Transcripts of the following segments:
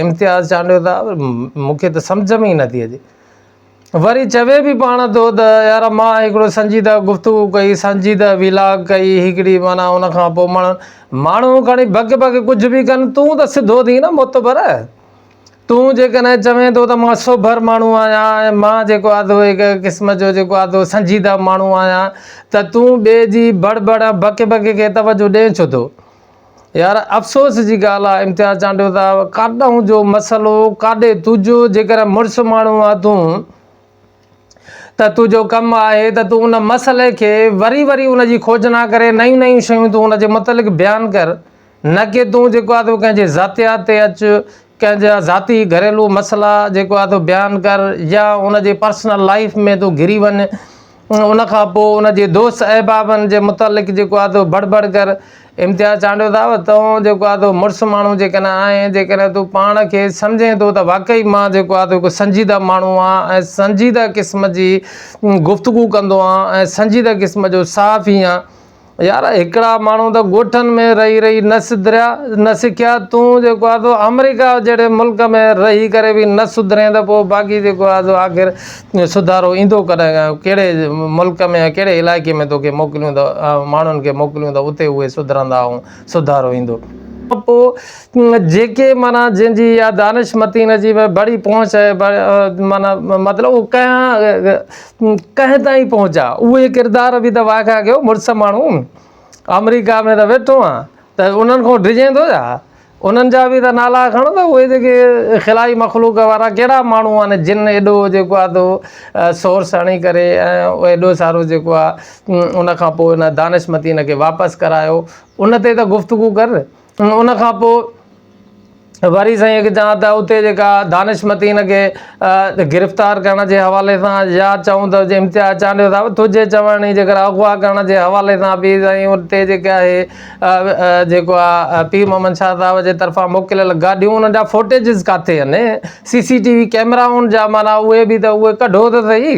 امتياز چانڊيو ته مون کي ته سمجهه ۾ ئي نٿي اچي وري چوي به پاڻ ٿو ته يار مان هڪڙو سنجيده گفتگو ڪئي سنجيده ويلاگ ڪئي هڪڙي مانا ان کان پوء ماڻهو ماڻهو کڻي بگ بگ ڪجهه به ڪن تون ته سڌو ٿي نه متبر تون جيڪڏهن چوين ٿو ته مان سوڀر ماڻهو آهيان ۽ مان جيڪو آدو هڪ قسم جو جيڪو آدو سنجيده ماڻهو آهيان ته تون ٻئي جي بڙ بڙ بڪ بڪ کي توجه ڏين ڇو ٿو يار افسوس جي ڳالهه آ امتياز چانڊيو صاحب ڪاڏهون جو مسئلو ڪاڏي تجو جيڪر مرس ماڻهو آ تون ته تجو ڪم آهي ته تون ان مسئلي کي وري وري ان جي کوجنا ڪري نيون نيون شيون تون ان جي متعلق بيان ڪر نه ڪي تون جيڪو آ ڪنهن جي ذاتيات تي اچ ڪنهن جا ذاتي گهريلو مسئلا جيڪو آهي تو بيان ڪر يا ان جي پرسنل لائيف ۾ تون گهري وڃ ان کان پوء ان جي دوست احبابن جي متعلق جيڪو آهي تو بڙ بڙ ڪر امتياز چانڊيو صاحب تون جيڪو آهي تو مڙس ماڻهو جيڪڏهن آهين جيڪڏهن تون پاڻ کي سمجهين ٿو ته واقعي مان جيڪو آهي تو هڪ سنجيده ماڻهو آهيان ۽ سنجيده قسم جي گفتگو ڪندو آهيان ۽ سنجيده قسم جو صحافي آهيان يار هڪڙا ماڻهو ته ڳوٺن ۾ رهي رهي نه سڌريا نه سکيا تون جيڪو آ سو آمريڪا جهڙي ملڪ ۾ رهي ڪري به نه سڌرين ته پوء باقي جيڪو آ سو آخر سڌارو ايندو ڪڏهن ڪهڙي ملڪ ۾ ڪهڙي علائقي ۾ توکي موڪليون ته ماڻهن کي موڪليون ته اتي اهي سڌرندا ۽ سڌارو ايندو. پوء جيڪي معنيٰ جنهن جي يا دانش متين جي بڙي پهچ آهي معنيٰ مطلب اهو ڪنهن ڪنهن تائين پهچا اهي ڪردار به ته واگهه ڪيو مڙس ماڻهو آمريڪا ۾ ته ويٺو آهين ته انهن کان ڊڄين ٿو ڇا انهن جا به ته نالا کڻ ته اهي جيڪي خلائي مخلوق وارا ڪهڙا ماڻهو آهن جن ايڏو جيڪو آهي تو سورس هڻي ڪري ۽ ايڏو سارو جيڪو آهي ان کان پوء ان دانشمتين کي واپس ڪرايو ان تي ته گفتگو ڪر ان کان پوء وري سائين کي چوان ته اتي جيڪا دانشمتين کي گرفتار ڪرڻ جي حوالي سان يا چئون ته امتياز چانڊيو صاحب تنهنجي چوڻ جي ڪري اغوا ڪرڻ جي حوالي سان به سائين اتي جيڪي آهي جيڪو آهي پير محمد شاهه صاحب جي طرفان موڪليل گاڏيون انهن جا فوٽيجز ڪاٿي آهن سي سي ٽي وي ڪيمرائن جا معنيٰ اهي به ته اهي ڪڍو ته سهي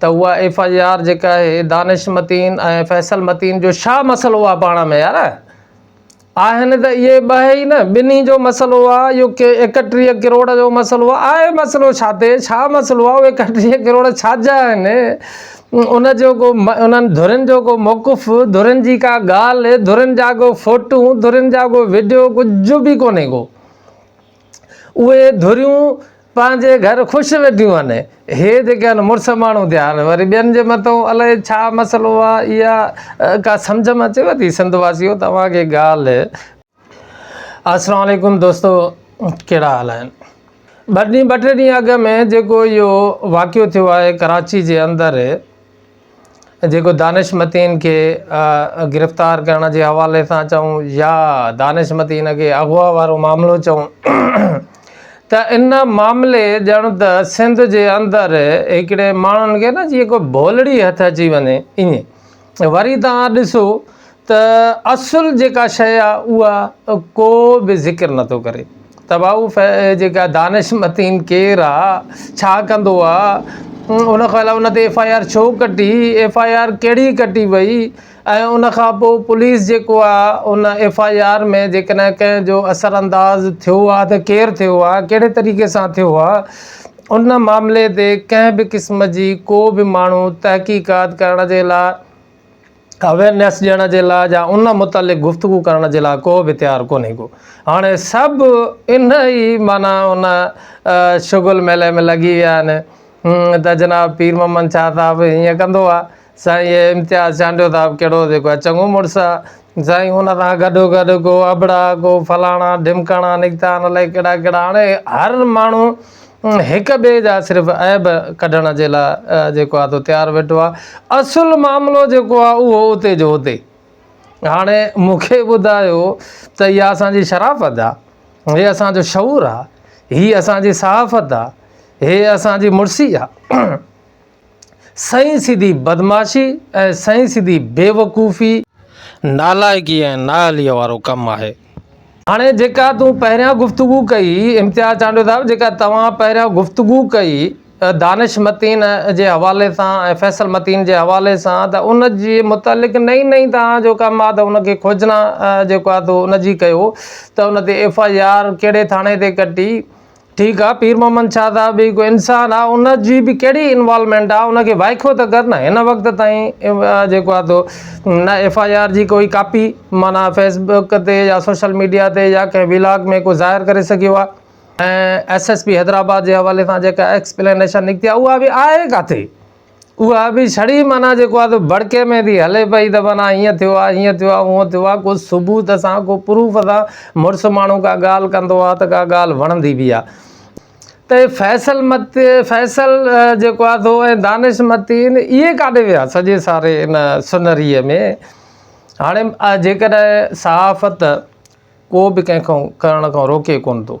ته اها ايف آء آر جيڪا آهي دانش متين ۽ فيصل متين جو ڇا مسئلو آهي پاڻ ۾ يار آهن ته اهي ٻه ئي نه ٻنهي جو مسئلو آهي اهو ڪي ايڪٽيهه ڪروڙ جو مسئلو آهي آهي مسئلو ڇا تي ڇا مسئلو آهي اهي ايڪٽيهه ڪروڙ ڇا جا آهن ان جو ڪو انهن ڌرين جو ڪو موقف ڌرين جي ڪا ڳالهه ڌرين جا ڪو فوٽون ڌرين جا ڪو وڊيو ڪجهه به ڪونهي ڪو اهي ڌريون پنهنجي گهر خوش ويٺيون آهن. هي جيڪي آهن مڙس ماڻهو ٿيا آهن وري ٻين جي مٿو الائي ڇا مسئلو آهي اها ڪا سمجهه ۾ اچيو ٿي سنڌ واسيو توهان کي ڳالهه السلام عليڪم دوستو ڪهڙا حال آهن ٻه ڏينهن ٻه ٽي ڏينهن اڳ ۾ جيڪو اهو واقعو ٿيو آهي ڪراچي جي اندر جيڪو دانش متين کي گرفتار ڪرڻ جي حوالي سان چئون يا دانش متين کي اغوا وارو معاملو چئون ته ان معاملي ڄڻ ته سنڌ جي اندر هڪڙي ماڻهن کي نه جيئن ڪو ڀولڙي هٿ اچي وڃي ائين وري تان ڏسو ته اصل جيڪا شيء آ اها ڪو به ذڪر نٿو ڪري تباهو ف جيڪا دانش متين ڪير آ ڇا ڪندو آ ان کان علاوه ان تي ايف آء آر ڇو ڪٽي ايف آء آر ڪهڙي ڪٽي وئي ۽ ان کان پوء پوليس جيڪو آ ان ايف آء آر ۾ جيڪڏهن ڪنهن جو اثر انداز ٿيو آ ته ڪير ٿيو آ ڪهڙي طريقي سان ٿيو آ ان معاملي تي ڪنهن به قسم جي ڪو به ماڻهو تحقيقات ڪرڻ جي لاء اويرنيس ڏيڻ جي لاء يا ان متعلق گفتگو ڪرڻ جي لاء ڪو به تيار ڪونهي ڪو هاڻي سڀ ان ئي معنيٰ ان شغل ميلي ۾ لڳي ويا آهن ته جناب پير محمد شاهه صاحب هيئن ڪندو آهي سائين هي امتياز چانڊيو صاحب ڪهڙو جيڪو آهي چڱو مڙس آهي سائين ان سان گڏو گڏ ڪو ابڙا ڪو فلاڻا ڍمڪاڻا نڪتا آهن الائي ڪهڙا ڪهڙا هاڻي هر ماڻهو هڪ ٻئي جا صرف عيب ڪڍڻ جي لاء جيڪو آهي سو تيار ويٺو آهي. اصل معاملو جيڪو آهي اهو اتي جو اتي. هاڻي مون کي ٻڌايو ته اها اسان جي شرافت آهي، هي اسان جو شعور آهي، هي اسان جي صحافت آهي، هي اسان جي مڙسي آهي. سائين سڌي بدمعاشي ۽ سائين سڌي بيوقوفي، نالائقي ۽ نااهليء وارو ڪم آهي. هاڻي جيڪا تون پهريان گفتگو ڪئي امتياز چانڊيو صاحب جيڪا توهان پهريان گفتگو ڪئي دانش متين جي حوالي سان ۽ فيصل متين جي حوالي سان ته ان جي متعلق نئين نئين توهان جو ڪم آ ته ان کي کوجنا جيڪو آ تو ان جي ڪيو ته ان تي ايف آء آر ڪهڙي ٿاڻي تي ڪٽي ٺيڪ آ پير محمد شاھ صاحب به هڪ انسان آ ان جي به ڪهڙي انوالومينٽ آ ان کي وائکو ته ڪر نه هن وقت تائين جيڪو آ تو نه ايف آئي آر جي ڪوئي ڪاپي معنيٰ فيس بڪ تي يا سوشل ميڊيا تي يا ڪنهن ويلاگ ۾ ڪو ظاهر ڪري سگهيو آ ۽ ايس ايس پي حيدرآباد جي حوالي سان جيڪا ايڪسپلينيشن نڪتي آ اها به آهي ڪاٿي اها به ڇڙي معنيٰ جيڪو آهي سو ڀڙڪي ۾ ٿي هلي پئي ته معنيٰ هيئن ٿيو آهي هيئن ٿيو آهي هونئن ٿيو آهي ڪو ثبوت سان ڪو پروف سان مڙس ماڻهو ڪا ڳالهه ڪندو آهي ته ڪا ڳالهه وڻندي به آهي ته هي فيصل مت فيصل جيڪو آهي سو ۽ دانش متين اهي ڪاڏي ويا سڄي ساري ان سنريء ۾ هاڻي جيڪڏهن صحافت ڪو به ڪنهن کان ڪرڻ کان روڪي ڪونه ٿو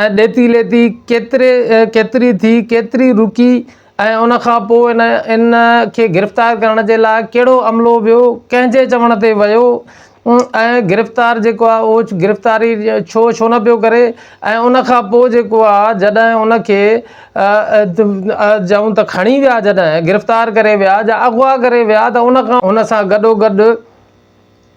۽ ڏيتي ليتي ڪيتري ڪيتري ٿي، ڪيتري رڪي ۽ ان کان پوء ان کي گرفتار ڪرڻ جي لاء ڪهڙو عملو ويو، ڪنهن جي چوڻ تي ويو ۽ گرفتار جيڪو آهي اهو گرفتاري ڇو ڇو نه پيو ڪري ۽ ان کان پوء جيڪو آهي جڏهن ان کي چئون ته کڻي ويا جڏهن گرفتار ڪري ويا جا اغوا ڪري ويا ته ان کان ان سان گڏو گڏ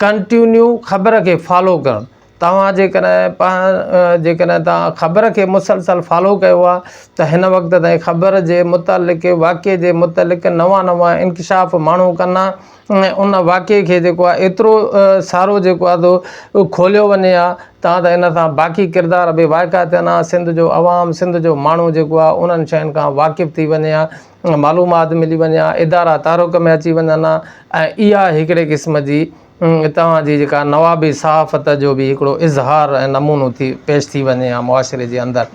ڪنٽيونيو خبر کي فالو ڪرڻ توهان جيڪڏهن پاڻ جيڪڏهن توهان خبر کي مسلسل فالو ڪيو آهي ته هن وقت تائين خبر جي متعلق واقعي جي متعلق نوان نوان انڪشاف ماڻهو ڪنا ۽ ان واقعي کي جيڪو آهي ايترو سارو جيڪو آهي سو کوليو وڃي ها تان ته ان سان باقي ڪردار به واهڪا ٿين ها سنڌ جو عوام سنڌ جو ماڻهو جيڪو آهي انهن شين کان واقف ٿي وڃي ها معلومات ملي وڃي ها ادارا تعارف ۾ اچي وڃن ها ۽ اها هڪڙي قسم جي توهان جي جيڪا نوابي صحافت جو به هڪڙو اظهار ۽ نمونو ٿي پيش ٿي وڃي ها معاشري جي اندر